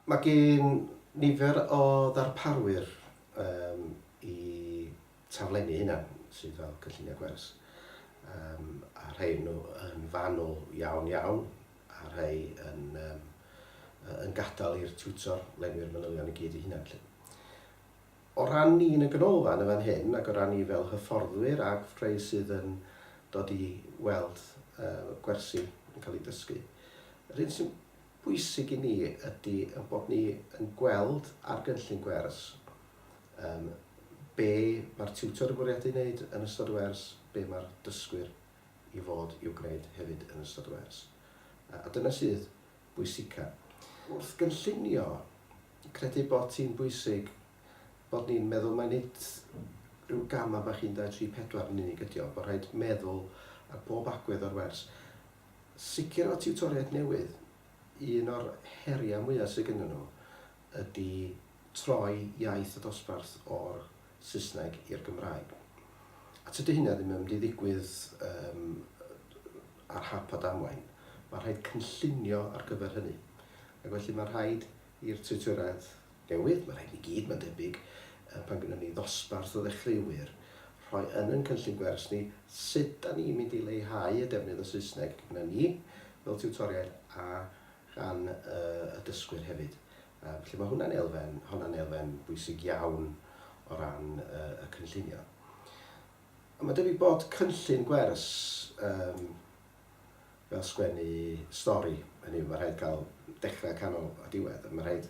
Mae gan nifer o ddarparwyr yym i taflenni hynna sydd fel cynlluniau gwers yym a rhai o nhw yn fanwl iawn iawn a rhai yn yym yn gadael i'r tiwtor lenwi'r manylion i gyd ei hunan 'lly. O ran ni yn y Ganolfan yn fan hyn ac o ran ni fel hyfforddwyr ac rhai sydd yn dod i weld gwersi yn cael eu dysgu, yr hyn sy'n bwysig i ni ydy ein bod ni yn gweld ar gynllun gwers be mae'r tiwtor yn bwriadu ei wneud yn ystod y wers, be mae'r dysgwyr i fod i'w gwneud hefyd yn ystod y wers. A dyna sydd bwysica. Wrth gynllunio, credu bod ti'n bwysig bod ni'n meddwl mai nid rhyw gama bach 1, 2, 3, 4 yn unig ydi o, bod rhaid meddwl ar bob agwedd o'r wers. Sicr efo tiwtoriaid newydd, un o'r heriau mwya sy gennyn nhw ydi troi iaith y dosbarth o'r Saesneg i'r Gymraeg. A tydy hynna ddim yn mynd i ddigwydd um, ar hap a damwain. Mae rhaid cynllunio ar gyfer hynny. Ac felly mae rhaid i'r tiwtoredd newydd, mae rhaid i gyd, mae'n debyg, pan gynnu ni ddosbarth o ddechreuwyr, rhoi yn yn cynllun gwers ni sut da ni'n mynd i leihau y defnydd o Saesneg gyda ni fel tiwtoriaid a gan uh, y dysgwyr hefyd. Yym, felly mae hwnna'n elfen, honna'n elfen bwysig iawn o ran y, y cynllunio. A mae debyg bod cynllun gwers um, fel sgwennu stori, hynny yw, mae rhaid cael dechrau, canol a diwedd. Mae rhaid,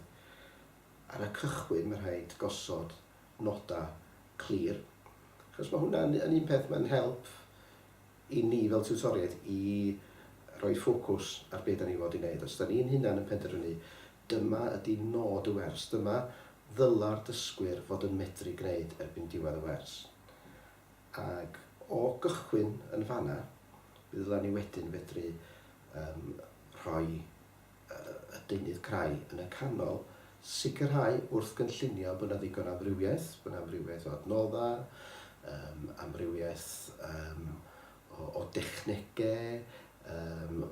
ar y cychwyn, mae rhaid gosod nodau clir, achos mae hwnna'n yn un peth mae'n help i ni fel tiwtoriaid i roi ffocws ar be dan ni fod i wneud. Os dan ni'n hunan yn penderfynu dyma ydi nod y wers, dyma ddyla'r dysgwyr fod yn medru gwneud erbyn diwedd y wers. Ac o gychwyn yn fanna, mi ddyla ni wedyn fedru rhoi y deunydd crai yn y canol, sicrhau wrth gynllunio bod yna ddigon o amrywiaeth, bod yna amrywiaeth o adnoddau, um, amrywiaeth um, o, o dechnegau, um,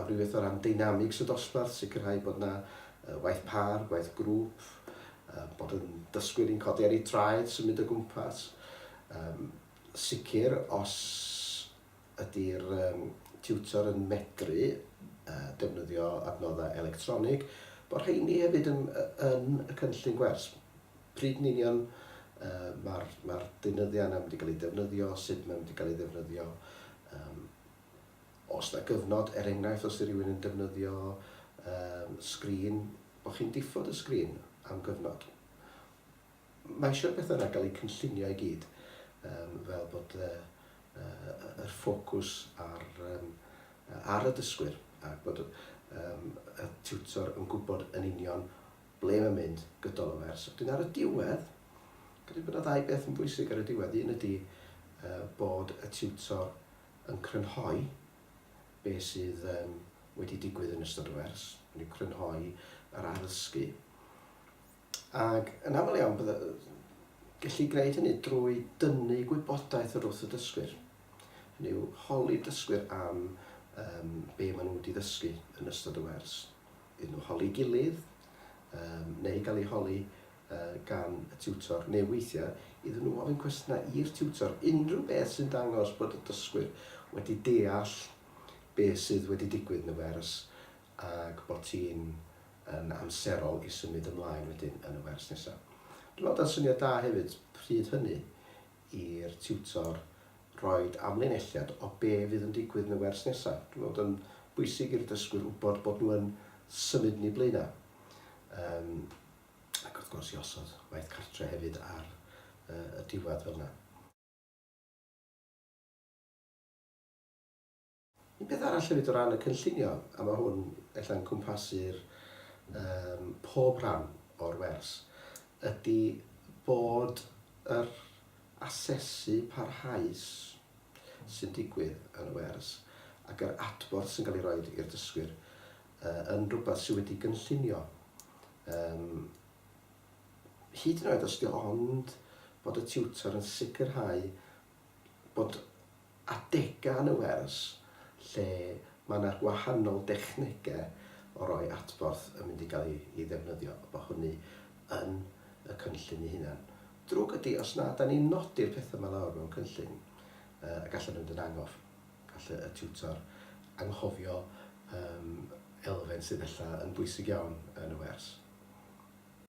amrywiaeth o ran dynamics y dosbarth, sicrhau bod yna uh, waith par, waith grŵp, uh, bod yn dysgwyr i'n codi ar ei traed, symud o gwmpas. Um, sicr, os ydy'r tiwtor yn medru defnyddio adnoddau electronig, bod rheini hefyd yn y cynllun gwers. Pryd yn union mae'r deunyddiau yna yn mynd i gael eu defnyddio, sut mae'n mynd i gael ei ddefnyddio, os yna gyfnod, er enghraifft os ydy rhywun yn defnyddio sgrin, bod chi'n diffod y sgrin am gyfnod. Mae eisiau beth yna gael eu cynllunio i gyd fel bod yr ffocws ar y dysgwyr a bod y tiwtor yn gwybod yn union ble mae'n mynd gydol y wers. Wedyn ar y diwedd, gyda bod yna ddau beth yn bwysig ar y diwedd. Un ydy bod y tiwtor yn crynhoi be sydd wedi digwydd yn ystod y wers, hynny yw crynhoi yr addysgu. Ac yn aml iawn bydda, gellu gwneud hynny drwy dynnu gwybodaeth yr wrth y dysgwyr. Hynny yw, holi dysgwyr am um, be maen nhw wedi ddysgu yn ystod y wers. Iddyn nhw holi gilydd, um, neu gael ei holi uh, gan y tiwtor, neu weithiau iddyn nhw ofyn cwestiynau i'r tiwtor, unrhyw beth sy'n dangos bod y dysgwyr wedi deall beth sydd wedi digwydd yn y wers ac bod ti'n yn amserol i symud ymlaen wedyn yn y wers nesaf. Dwi'n meddwl da'n syniad da hefyd pryd hynny i'r tiwtor roid amlinelliad o be fydd yn digwydd yn y wers nesaf. Dwi'n meddwl bod o'n bwysig i'r dysgwyr wybod bod nhw yn symud yn eu blaenau. Um, ac wrth gwrs i osod waith cartre hefyd ar uh, y diwedd fel yna. Un peth arall hefyd o ran y cynllunio, a mae hwn ella'n cwmpasu'r um, pob rhan o'r wers, ydy bod yr asesu parhaus sy'n digwydd yn y wers ac yr adborth sy'n cael ei roi i'r dysgwyr uh, yn rhywbeth sydd wedi gynllunio. Um, hyd yn oed os ydy ond bod y tiwtor yn sicrhau bod adegau yn y wers lle mae 'na gwahanol dechnegau o roi adborth yn mynd i gael ei ddefnyddio, a bod hynny yn y cynllun ei hunan. Drwg ydy, os na, 'dan ni'n nodi'r pethau 'ma lawr mewn cynllun, a gall o fynd yn angof. Gall y tiwtor anghofio elfen sydd ella yn bwysig iawn yn y wers.